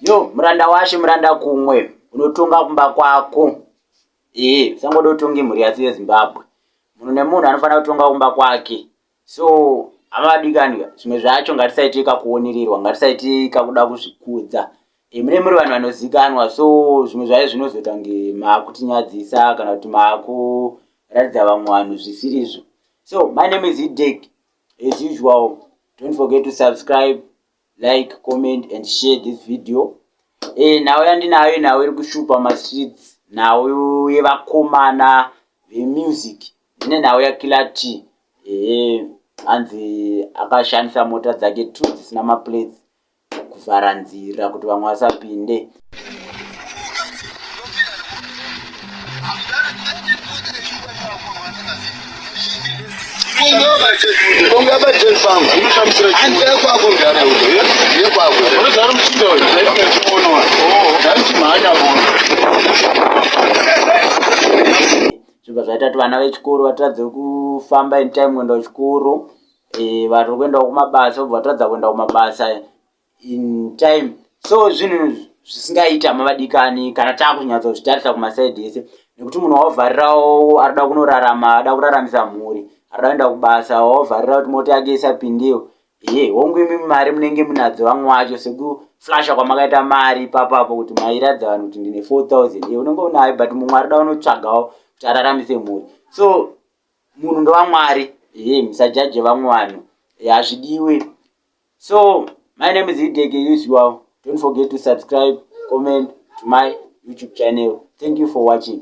yo muranda washe muranda kumwe unotonga kumba kwako ee usangoda utonge mhuri yasi yezimbabwe munhu nemunhu anofanira kutonga kumba kwake so amavadikani zvimwe zvacho ngatisaite kakuonererwa ngatisaite kakuda kuzvikudza e, mune muri vanhu vanozikanwa so zvimwe zvayo zvinozoita kunge maakutinyadzisa kana kuti maakuratidza vamwe vanhu zvisirizvo so my name is idek As usual, don't forget to subscribe, like, comment and share this video. E, nhau yandinayo nhau iri kushupa mastreets, nhau yevakomana vemusic, ine nhau yakila t e, anzi akashandisa mota dzake two dzisina maplates kuvhara nzira kuti vamwe vasapinde zvibva zvaita kuti vana vechikoro vatadze kufamba in time kuenda kuchikoro eh, vanhu kuendawo kumabasa obva vatadza kuenda kumabasa in time so zvinhu zvisingaita mavadikani kana takunyatsa zvitarisa kumasaidi ese nekuti munhu waovharirawo arida kunorarama ada kuraramisa mhuri arida kuenda kubasa waovharira kuti mota yake isapindiwo ye hongu imi mari munenge munadzo vamwe wacho sekuflasha kwamakaita mari ipapapo kuti mairadza vanhu kuti ndine 4000 ye unenge unayo but mumwe arida unotsvagawo kuti araramise mhuri so munhu ndewamwari he musajaje vamwe vanhu hazvidiwe so my name is idege usual don't forget to subscribe comment to my youtube channel thank you for watching